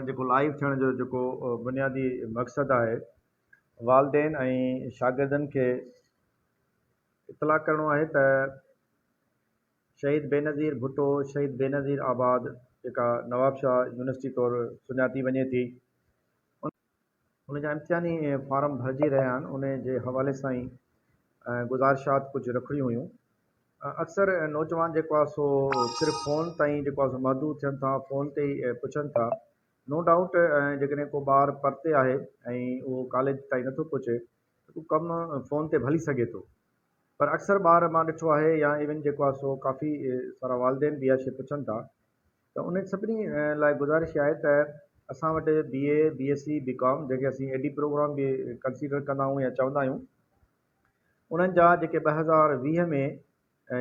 جيڪو لائيو ٿيڻ جو جيڪو بنيادي مقصد آهي والدين ۽ شاگردن کي اطلاع ڪرڻو آهي ته شهيد بينظير ڀٽو شهيد بينظير آباد جيڪا نوابشاهه يونيورسٽي طور سڃاتي وڃي ٿي ان جا امتحاني فارم ڀرجي رهيا آهن ان جي حوالي سان ئي گذارشات ڪجهه رکڻيون هيون اڪثر نوجوان جيڪو آهي سو صرف فون تائين جيڪو آهي سو محدود ٿين ٿا فون تي ئي پڇن ٿا نو ڊائوٽ جيڪڏهن ڪو ٻار پرتي آهي ۽ اهو ڪاليج تائين نٿو پهچي ته ڪو ڪم فون تي به هلي سگهي ٿو پر اڪثر ٻار مان ڏٺو آهي يا ايون جيڪو آهي سو ڪافي سارا والدين به اها شيء پڇن ٿا ته انهن سڀني لاء گذارش آهي ته اسان وٽ بي اي، بي ايس سي، بي ڪام جنهن کي اسين اي ڊي پروگرام به ڪنسيڊر ڪندا آهيون يا چوندا آهيون انهن جا جيڪي ٻه هزار ويهه ۾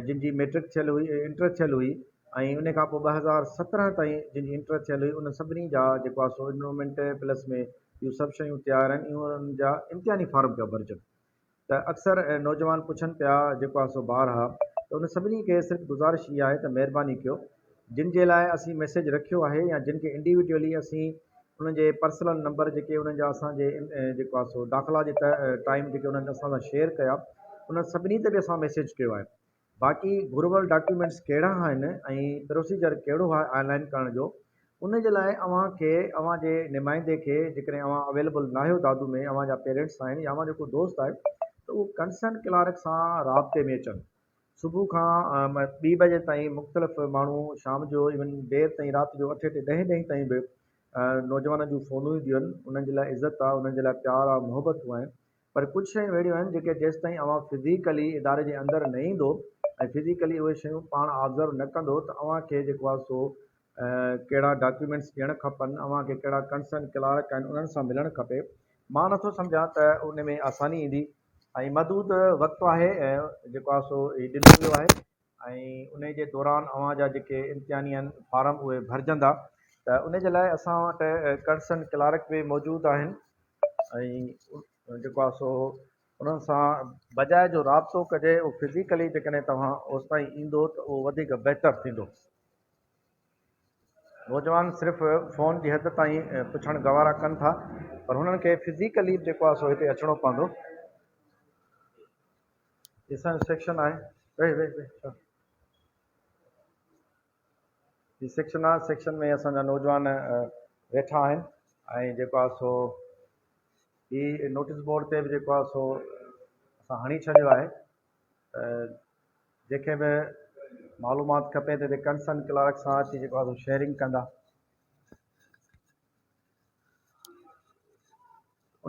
جن جي ميٽرڪ ٿيل هئي انٽر ٿيل هئي ۽ ان کان پوء ٻه هزار سترهن تائين جن جي انٽر ٿيل هئي انهن سڀني جا جيڪو آهي سو انرولمينٽ پلس ۾ اهو سڀ شيون تيار آهن اهو انهن جا امتحاني فارم پيا ڀرجن. ته اڪثر نوجوان پڇن پيا جيڪو آهي سو بار آهي ته ان سڀني کي صرف گذارش هي آهي ته مهرباني ڪيو جن جي لاء اسين ميسيج رکيو آهي يا جن کي انڊيوڊيولي اسين انهن جي پرسلن نمبر جيڪي انهن جا اسان جي جيڪو آهي سو داخلا جي ٽائيم جيڪي انهن اسان سان شيئر ڪيا انهن سڀني تي به اسان ميسيج ڪيو آهي باقي گهربل ڊاڪيومينٽس ڪهڙا آهن ۽ پروسيجر ڪهڙو آهي آن لائن ڪرڻ جو ان جي لاء اوهان کي اوهان جي نمائندي کي جيڪڏهن اوهان اويليبل ناهيو دادو ۾ اوهان جا پيرينٽس آهن يا اوهان جو ڪو دوست آهي ته اهو ڪنسرن ڪلارڪ سان رابطي ۾ اچن صبح کان ٻي بجي تائين مختلف ماڻهو شام جو ايون دير تائين رات جو اٺ اٺ ڏهين ڏهين تائين به نوجوانن جون فونون اينديون آهن انهن جي لاء عزت آهي انهن جي لاء پيار آهي محبتون آهن پر ڪجهه شيون اهڙيون آهن جيڪي جيستائين اوهان فزيڪلي اداري جي اندر نه ايندو ۽ فزيڪلي اهي شيون پاڻ آبزرو نه ڪندو ته اوهان کي جيڪو آهي سو ڪهڙا ڊاڪيومينٽس ڏيڻ کپن اوهان کي ڪهڙا ڪنسرن ڪلارڪ آهن انهن سان ملڻ کپي مان نه ٿو سمجهان ته ان ۾ آساني ايندي ۽ محدود وقت آهي جيڪو آهي سو هي ڏنو ويو آهي. ۽ انهي جي دوران اوهان جا جيڪي امتحاني آهن فارم اهي ڀرجندا ته انهي جي لاء اسان وٽ ڪنسرن ڪلارڪ به موجود آهن ۽ جيڪو آهي سو انهن سان بجاء جو رابطو ڪجي اهو فزيڪلي جيڪڏهن توهان اوستائين ايندو ته اهو وڌيڪ بهتر ٿيندو. نوجوان صرف فون جي حد تائين پڇڻ گوارا ڪن ٿا پر هنن کي فزيڪلي به جيڪو آهي سو هتي اچڻو پوندو. هي سائنس سيڪشن آهي ويهه ويهه ويهه ڇا هي سيڪشن آهي سيڪشن ۾ اسان جا نوجوان ويٺا آهن ۽ جيڪو آهي سو هي نوٽيس بورڊ تي به جيڪو آهي سو اسان هڻي ڇڏيو آهي جيڪي به معلومات کپي ته ڪنسرن ڪلارڪ سان اچي جيڪو آهي سو شيئرنگ ڪندا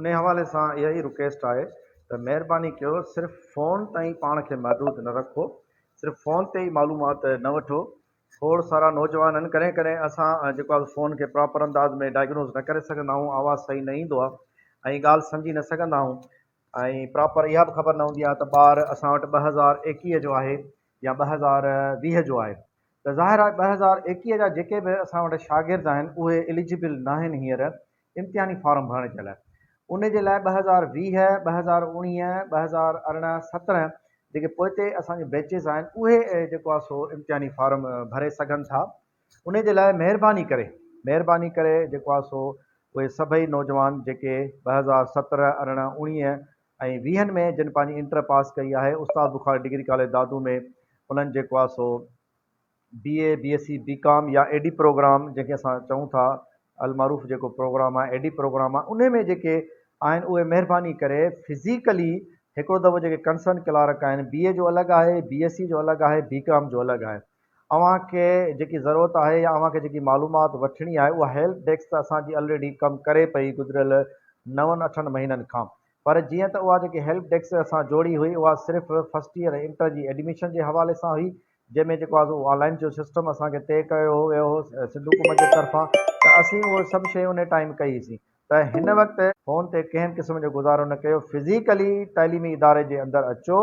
انهي حوالي سان اها ئي رڪيسٽ آهي ته مهرباني ڪيو صرف فون تائين پاڻ کي محدود نه رکو صرف فون تي ئي معلومات نه وٺو کوڙ سارا نوجوانن ڪڏهن ڪڏهن اسان جيڪو آهي فون کي پراپر انداز ۾ ڊائگنوز نه ڪري سگهندا آهيون آواز صحيح نه ايندو آهي ۽ ڳالهه سمجهي نه سگهندا آهيون ۽ پراپر اها به خبر نه هوندي آهي ته ٻار اسان وٽ ٻه هزار ايڪيهه جو آهي يا ٻه هزار ويهه جو آهي ته ظاهر آهي ٻه هزار ايڪيهه جا جيڪي به اسان وٽ شاگرد آهن اهي اليجبل ناهن هينئر امتحاني فارم ڀرڻ جي لاء ان جي لاء ٻه هزار ويهه، ٻه هزار اوڻيهه، ٻه هزار ارڙهن، سترهن جيڪي پوئتي اسان جون بيچز آهن اهي جيڪو آهي سو امتحاني فارم ڀري سگهن ٿا ان جي لاء مهرباني ڪري مهرباني ڪري جيڪو آهي سو اهي سڀئي نوجوان جيڪي ٻه هزار سترهن، ارڙهن، اوڻيهه ۽ ويهن ۾ جن پنهنجي انٽر پاس ڪئي آهي استاد بخاري ڊگري ڪاليج دادو ۾ انهن جيڪو آهي سو بي اي بي ايس سي بي ڪام يا اي ڊي پروگرام جنهن کي اسان چئون ٿا المعروف جيڪو پروگرام آهي اي ڊي پروگرام آهي انهي ۾ جيڪي آهن اهي مهرباني ڪري فزيڪلي هڪڙو دفعو جيڪي ڪنسرن ڪلارڪ آهن بي اي جو الڳ آهي بي ايس سي جو الڳ آهي بي ڪام جو الڳ آهي اوهان کي جيڪي ضرورت آهي يا اوهان کي جيڪي معلومات وٺڻي آهي اها هيلپ ڊيسڪ ته اسان جي الريڊي ڪم ڪري پئي گذريل نون اٺن مهينن کان پر جيئن ته اها جيڪي هيلپ ڊيسڪ اسان جوڙي هئي اها صرف فرسٽ ييئر ۽ انٽر جي ايڊميشن جي حوالي سان هئي جنهن ۾ جيڪو آزو آن لائن جو سسٽم اسان کي طئي ڪيو ويو هو سنڌ حڪومت جي طرفان ته اسين اهو سڀ شيون انهي ٽائيم ڪئي سين ته هن وقت فون تي ڪنهن قسم جو گذارو نه ڪيو فزيڪلي تعليمي اداري جي اندر اچو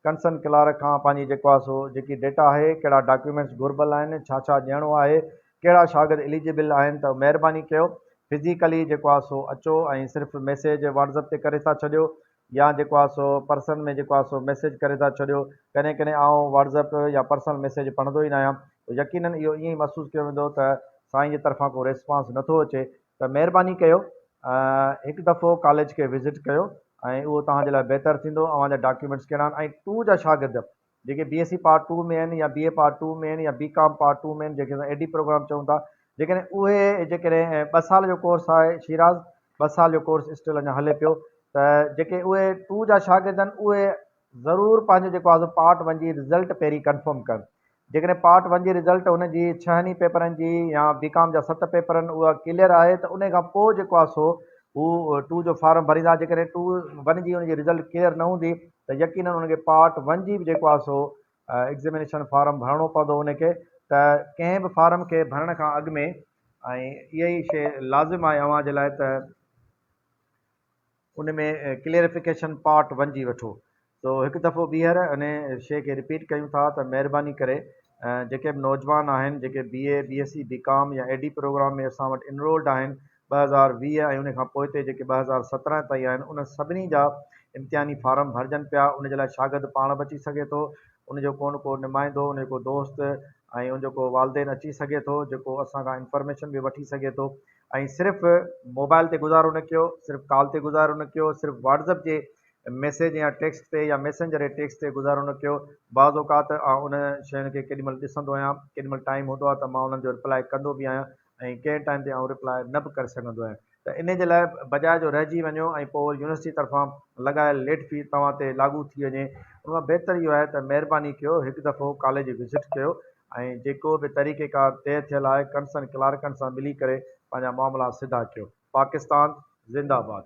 ڪنسن ڪلارڪ کان پنهنجي جيڪو آهي سو جيڪي ڊيٽا آهي ڪهڙا ڊاڪيومينٽس گهربل آهن ڇا ڇا ڏيڻو آهي ڪهڙا شاگرد اليجبل آهن ته مهرباني ڪيو فزيڪلي جيڪو آهي سو اچو ۽ صرف ميسيج واٽزپ تي ڪري ٿا ڇڏيو يا جيڪو آهي سو پرسن ۾ جيڪو آهي سو ميسيج ڪري ٿا ڇڏيو ڪڏهن ڪڏهن آئون واٽزپ يا پرسنل ميسيج پڙهندو ئي نه آهيان يقينن اهو ائين ئي محسوس ڪيو ويندو ته سائين جي طرفان ڪو ريسپانس نه ٿو اچي ته مهرباني ڪيو هڪ دفعو ڪاليج کي وزٽ ڪيو ۽ اهو توهان جي لاء بهتر ٿيندو اوهان جا ڊاڪيومينٽس ڪهڙا آهن ۽ ٽو جا شاگرد جيڪي B S C part two ۾ آهن يا بي اي پارٽ ٽو ۾ آهن يا بي ڪام پارٽ ٽو ۾ آهن جيڪي اسان اي ڊي پروگرام چئون ٿا جيڪڏهن اهي جيڪڏهن ٻه سال جو ڪورس آهي شيراز ٻه سال جو ڪورس اسٽل اڃا هلي پيو ته جيڪي اهي ٽو جا شاگرد آهن اهي ضرور پنهنجو جيڪو آزو پارٽ ون جي رزلٽ پهرين ڪنفرم ڪن جيڪڏهن پارٽ ون جي رزلٽ هن جي ڇهن ئي پيپرن جي يا بي ڪام جا ست پيپرن اها ڪليئر آهي ته انهي کان پوء جيڪو آهي سو هو ٽو جو فارم ڀريندا جيڪڏهن ٽو ون جي ان جي رزلٽ ڪليئر نه هوندي ته يقينن ان کي پارٽ ون جي به جيڪو آهي سو ايگزيمينيشن فارم ڀرڻو پوندو ان کي ته ڪنهن به فارم کي ڀرڻ کان اڳ ۾ ۽ اها ئي شي لازم آهي اوهان جي لاء ته. ان ۾ ڪليئرفڪيشن پارٽ ون جي وٺو سو هڪ دفعو ٻيهر ان شي کي رپيٽ ڪيون ٿا ته مهرباني ڪري جيڪي به نوجوان آهن جيڪي بي اي بي ايس سي بي ڪام يا اي ڊي پروگرام ۾ اسان وٽ انرولڊ آهن ٻه هزار ويهه ۽ ان کان پوئتي جيڪي ٻه هزار سترهن تائين آهن ان سڀني جا امتحاني فارم ڀرجن پيا ان جي لاء شاگرد پاڻ به اچي سگهي ٿو ان جو ڪو نه ڪو نمائندو ان جو ڪو دوست ۽ ان جو ڪو والدين اچي سگهي ٿو جيڪو اسان کان انفارميشن به وٺي سگهي ٿو ۽ صرف موبائل تي گذارو نه ڪيو، صرف ڪال تي گذارو نه ڪيو، صرف واٽسپ جي ميسيج يا ٽيڪسٽ تي يا ميسنجر جي ٽيڪسٽ تي گذارو نه ڪيو، بعض اوقات آئون انهن شين کي ڪيڏي مهل ڏسندو آهيان، ڪيڏي مهل ٽائيم هوندو آهي ته مان انهن جو ريپلائي ڪندو به آهيان ۽ ڪنهن ٽائيم تي آئون ريپلائي نه به ڪري سگهندو آهيان ته انهي جي لاء بجاء جو رهجي وڃو ۽ پوء وري يونيورسٽي طرفان لڳايل ليٽ في توهان تي لاڳو ٿي وڃي ان کان بهتر اهو آهي ته مهرباني ڪيو هڪ دفعو ڪاليج وزٽ ڪيو ۽ جيڪو به طريقيڪار طئي ٿيل آهي ڪنسن ڪلارڪن سان ملي ڪري پنهنجا معاملا سڌا ڪيو پاڪستان زنده باد.